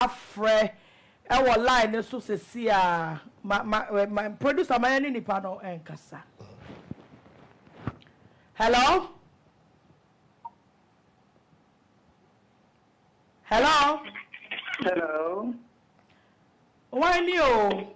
frɛ ɛwɔ line no so sɛsi a ma ma ma producer ma yɛ ne nipa no ɛnkasa hello hello hello wɔn ni o.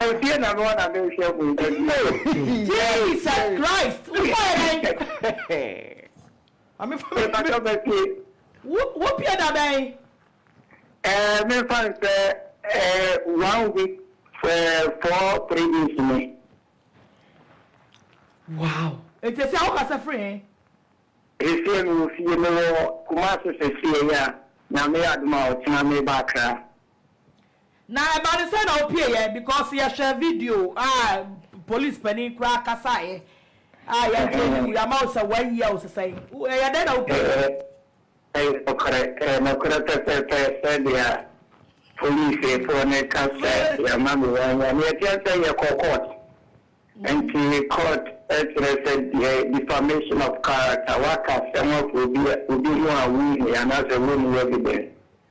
Ansie na noa na menhwɛ ho ba bio. Jesus Christ wo kɔɛ dɛn. Mame fa me. Mepakyɛw mɛtie. Wo wo pie da bɛn. Ɛɛ menfa nsɛ ɛɛ one week ɛɛ four three days ni. Wow nti ɛsɛ wo kasa firi he. Sesie mewɔ fie mewɔ kumase sesie ya nyame yɛ adom a ɔkyena meba akra. Na ɛba no sɛn na ɔpieɛ because yɛhwɛ video a police panin koraa kasaeɛ a yɛagye ayi wo yɛama wo sɛ one year wo sesɛn ɛyɛ dɛn na wopieɛ. Ɛyɛ nokorɛ ɛyɛ nokorɛ pɛpɛɛpɛ sɛdeɛ police foɔ no ka sɛ yɛama me one year no yɛteɛ sɛ yɛkɔ court nti court kyerɛ sɛ deɛ defamation of character waka asɛm afa obi ho a wonhia anaasɛ wonni evidence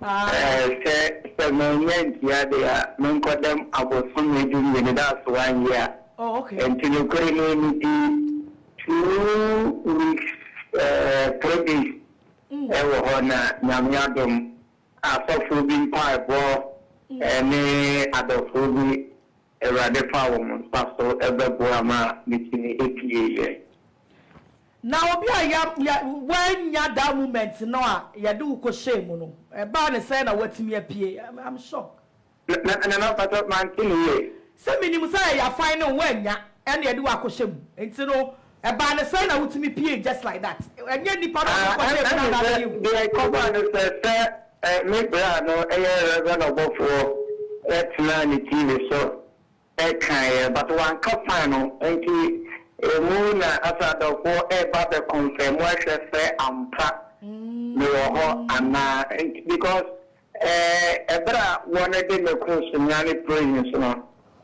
Sɛ sɛ mannya antua de a, menkɔ dɛm abosome du mmienu da a so anyɛ a. Nti nokorɛ no medi two weeks three days wɔ hɔ na Nyame adom asɔfoɔ bi mpaebɔ ne adɔfoɔ bi Awurade faa wɔn nsa so bɛboaa ma metumi pieeɛ. Na obi a ya ya wannya that moment no a yɛde wo kɔhyɛɛ mu no, ɛbaa no sɛn na watumi apue? I'm I'm shocked. Na na Nana mpakyɛw mante no yie. Sɛ menim sɛ yɛafine wo annya ɛna yɛde wo akɔhyɛ mu nti no Ɛbaa no sɛn na wotumi piee just like that? Ɛnyɛ nnipa na wɔkɔ kɔhyɛɛ mu na na abɛyɛ hu. Deɛ ɛkɔbaa no sɛ sɛ me bra no yɛ Reverend ɔbɔfoɔ tenaa ne TV so kaeɛ but wanka fan no nti ɛmu na asɛ adɔfoɔ reba abɛ confirm ahwɛ sɛ ampa mewɔ hɔ anaa nti because Ber a wɔrede ne kor so nyan Prehins no,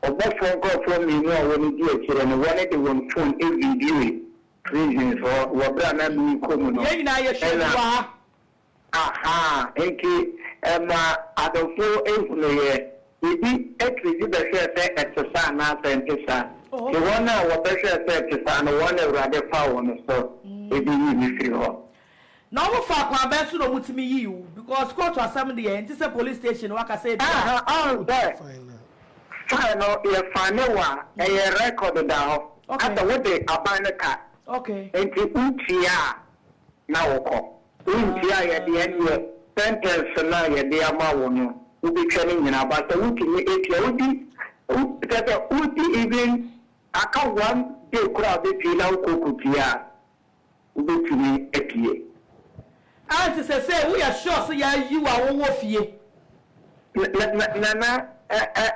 ɔbɔfoɔ nkorɔfoɔ mmienu a wɔredi akyire no, wɔde wɔn fon vidioe Prehins hɔ wɔ ber a na merekɔ mu no. Yɛn nyinaa yɛhyia mu wɔ ha. Ahaa, enti ma adɔfo nhunu yɛ. Yedi akyire dzi bɛhwɛɛ sɛ ɛte saa anaa sɛ ɛnte saa. Ntsi wɔn a wɔbɛhwɛɛ sɛ ɛte saa no, wɔn na Awurade faa wɔn so beyi me firi hɔ. Na ɔmo faa kwan bɛn so na ɔmo tumi yii wo? Because court asɛm deɛ ɛnte sɛ police station waka sɛ ebia. Aha ɔhu sɛ fine no yɛ fine wo a ɛyɛ record da hɔ asɛ wo de aban no ka nti wo tua a na wo kɔ wo ntua a yɛde ɛneɛ sentence no a yɛde ama wo no wo betwa no nyinaa ba sɛ wo tumi atua wo di kyɛsɛ wo di even aka one day koraa a bɛ pii na wo kɔ kɔ tua a wobɛtumi apue. Ante sɛ sei woyɛ sure sɛ yɛayi wo a wowɔ fie. Nana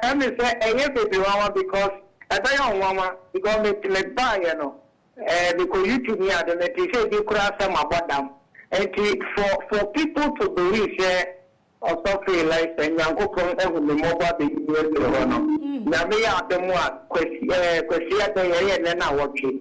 ɛme sɛ ɛyɛ baby nwanwa because ɛbɛyɛ ɔnwanwa because me me baayɛ no ɛɛ me kɔ YouTube ne ade me te sɛ ebi koraa sɛ mabɔ dam nti for for people to believe sɛ ɔsɔfo Elisha Nyankopɔn ahu me mmɔbɔ abɛyi me afiri hɔ no Nyame yɛ adom a Kwasi ɛɛ Kwasi Adɛyɛ ɛyɛ nnɛ na awɔtwe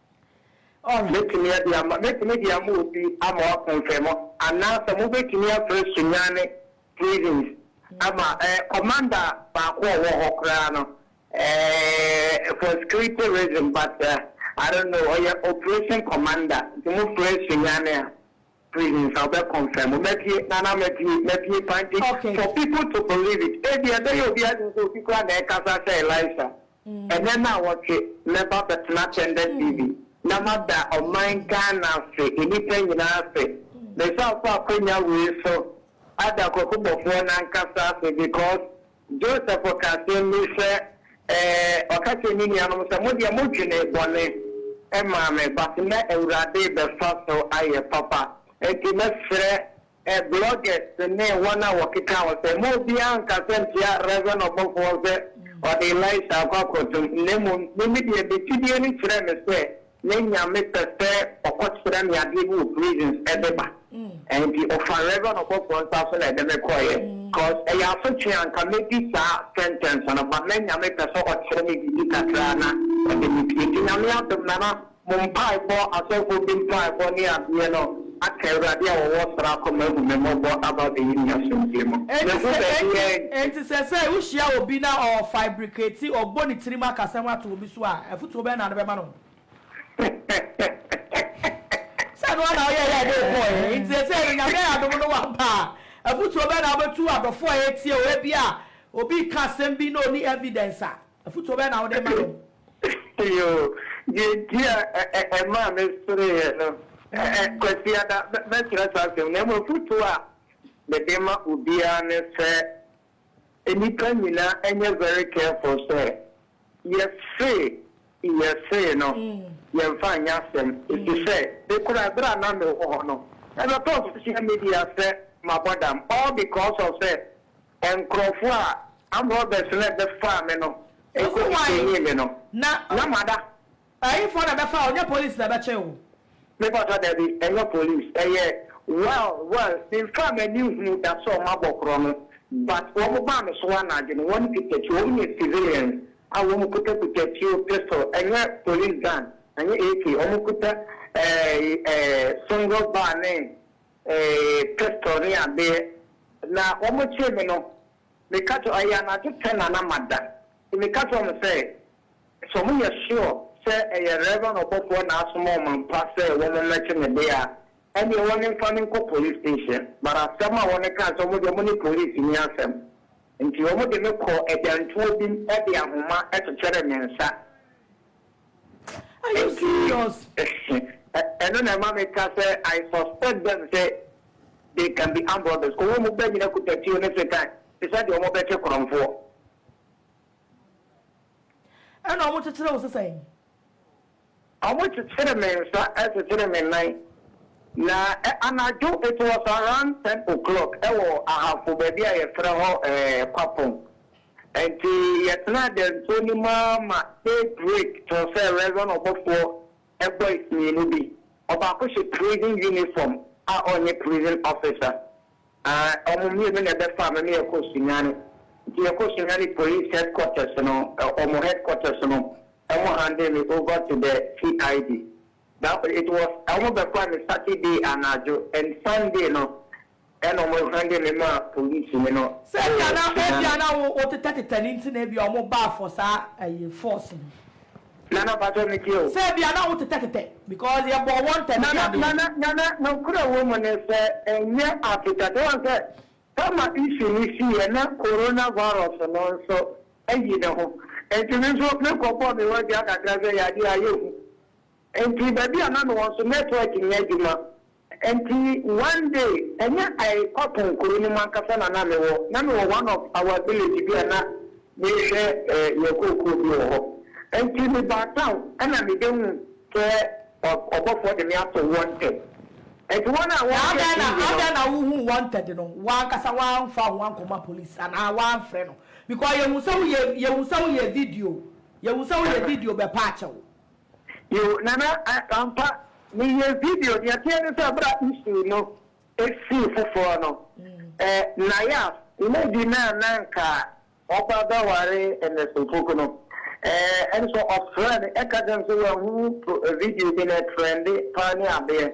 Mɛtumi de ama, mɛtumi de ama obi ama wapo mfɛmɔ, anaa sɛ mobɛtumi afrɛ Sunyani prisons ama eh, commander baako a ɔwɔ hɔ koraa no eh, for security reason but eh, I don't know, ɔyɛ operation commander, nti mofrɛ Sunyani a. Please nsa wobɛ confirm o. Mɛpie nana mɛpie mɛpie paa nti Okay. for people to believe it ebi ɛbɛyɛ obi adwene sɛ obi koraa na ɛkasa sɛ Elisha ɛnɛ naawɔtwe mɛba bɛtena Tender TV na mada ɔman Ghana ase nnipa nyinaa ase mesan fa akonya wei so ada Kwaku Bɔfoɔ nankasa ase because Joseph ɔka asɛm bi sɛ, ɛɛ, ɔka kyerɛɛ ne nuanom sɛ, Mo deɛ modwenee bɔne maa me, but nnɛ Awurade bɛfa so ayɛ papa. Enti mɛsrɛ bloggers ne wɔn a wɔkeka ho sɛ, mma obiara nnkasa ntia Rev. Ɔbɔfoɔ sɛ ɔde Elisha akɔ akɔtom, na mmom, me me deɛ, me gyidie no kyerɛɛ me sɛ Ne nyame pɛ sɛ ɔkɔ kyerɛ me adeɛ bi wɔ prisons ɛde ba nti ɔfa reverend ɔbɔfoɔ nsa so na ɛde me kɔeɛ cause ɛyɛ asotwee a nka mɛdi saa sentence no but na nyame pɛ sɛ ɔkyerɛ me biribi kakraa na ɔde me pue nti nyame adom nana mo mpaebɔ asɔfoɔ bi mpaebɔ ne adeɛ no aka awurade a ɔwɔ soro akoma ahu me mmɔbɔ aba abɛyi me asomdwie mu mahu baabi a ɛnte. Enti sɛsɛɛ wohyia obi na ɔfaebrikati ɔbɔ ne tirim akasɛm ato obi so a, afotuo bɛn na ade bɛma no? Sɛ ɛno ara na woyɛeɛ a ɛde wo kɔeɛ, enti seesei no, Nyame ayɛ adom no woaba a, afotuo bɛn na wobɛtu adɔfoɔ a wɔretie wo? Ebia obi reka asɛm bi na ɔnni evidence a, afotuo bɛn na wode rema no? Yoo, deɛ enti a ɛmaa mesereeɛ no, Kwasiada, mɛkyerɛ saa asɛm no, na mmom afotuo a mede ma obiara ne sɛ, Nnipa nyinaa nyɛ very careful sɛ yɛse yɛse no yɛmfa nyɛ asɛm efisɛ me koraa bere a na mewɔ hɔ no ɛbɛtɔ social media sɛ mabɔ dam all because of sɛ nkurɔfo a armed robbers no bɛfaa me no nko detainee me no na mada Ɛhefoɔ na bɛfa wo nyɛ police na bɛkyee wo. Me pato dabi ɛnyɛ police ɛyɛ well well menfaa m'ani nhuu da sɛ ɔmo abɔ korɔ no but ɔmo baa me so anadwo no wɔn kita tuo ɔmo yɛ civilians a wɔn kuta kuta tuo pistol ɛnyɛ police gun ɛnyɛ AK ɔmo kuta eh eh single bar ne eh pistol ne adeɛ na ɔmo kyee me no Meka kyerɛ, ɛyɛ anadwo pɛ na na mada, nti meka kyerɛɛ wɔn sɛ, sɛ wɔyɛ sure sɛ ɛyɛ Rev. Ɔbɔfoɔ na asoma wɔn ampa sɛ wɔmmɛgye me deɛ a, ɛnneɛ wɔmfa me nkɔ police station. But asɛm a wɔkaa sɛ wɔn deɛ wɔne police nni asɛm, nti wɔde me kɔɔ agyantuo bi mu de ahoma kyekyeree me nsa. Are you serious? Ɛno na ɛma me ka sɛ I suspect them sɛ they can be armed robbers cos wɔn ba nyina kuta tuo ne sekan te sɛ deɛ wɔn bɛ kye korɔnfoɔ. Ɛna wɔn kyekyere wo sesan? Wɔn kyekyere me nsa, kyekyere me nan, na anadwo it was around ten o'clock ɛwɔ Ahafo baabi a yɛfrɛ hɔ Kwapong. Enti yɛtenaa dɛnsoɔ no mu ara ma daybreak tɔɔ sɛ Rezon ɔbɔfoɔ boys mmienu bi, ɔbaako hyɛ prison uniform a ɔnyɛ prison officer, aah, wɔn mmienu na ɛbɛfaa me ma yɛkɔɔ Sunyani. Nti yɛkɔɔ Sunyani police headquarters no, wɔn headquarters no, wɔn handee me over to the CID. Na it was wɔn bɛkɔ me Saturday anadwo and Sunday no ɛna wɔn hande me maa police ni no Sɛ ɛwɔ ebia na ebia Sudan. na wo wotetɛtetɛ no nti na ebia wɔn baa for saa ɛyi force no. Nana mpakyɛw me tie o. Sɛ ebia na wo tetɛtetɛ because yɛ bɔɔ wɔn ntɛm Nana ebia deɛ. Nana Nana nokorɛ wɔ mu ne sɛ ɛnyɛ atetɛtɛ wɔn sɛ Tama issue no si yɛ na Corona virus no nso ayi ne ho nti me nso me kɔ bɔɔ me wɔ dua kakra sɛ yɛ adeɛ ayɛ hu Nti baabi a na mewɔ nso network nyɛ adwuma nti one day ɛnyɛ I Kwapong kuro no mu ankasa na na mewɔ na mewɔ one of our village bi a na mehwɛ yɛn kookoo bi wɔ hɔ nti mebaa town ɛna mebɛhu sɛ ɔbɔfoɔ de me ato wanted nti wɔn a wɔhwɛ TV no. Na adɛn na wohuu wanted no wo ankasa woamfa ho ankɔma police anaa woamfrɛ no because yɛhu sɛ woyɛ yɛhu sɛ woyɛ video yɛhu sɛ woyɛ video bɛpa akyɛw. Yow Nana ah ampa meyɛ video nea ɛteɛ ne sɛ berɛ a issue no sii foforɔ no eh Nayaf lady no a na anka ɔba bɛware Ernest Opoku no eh ɛne sɛ ɔfrɛɛ me ɛka kyerɛɛ me sɛ wanhunu video bi na ɛtrɛnde paa ne adeɛ.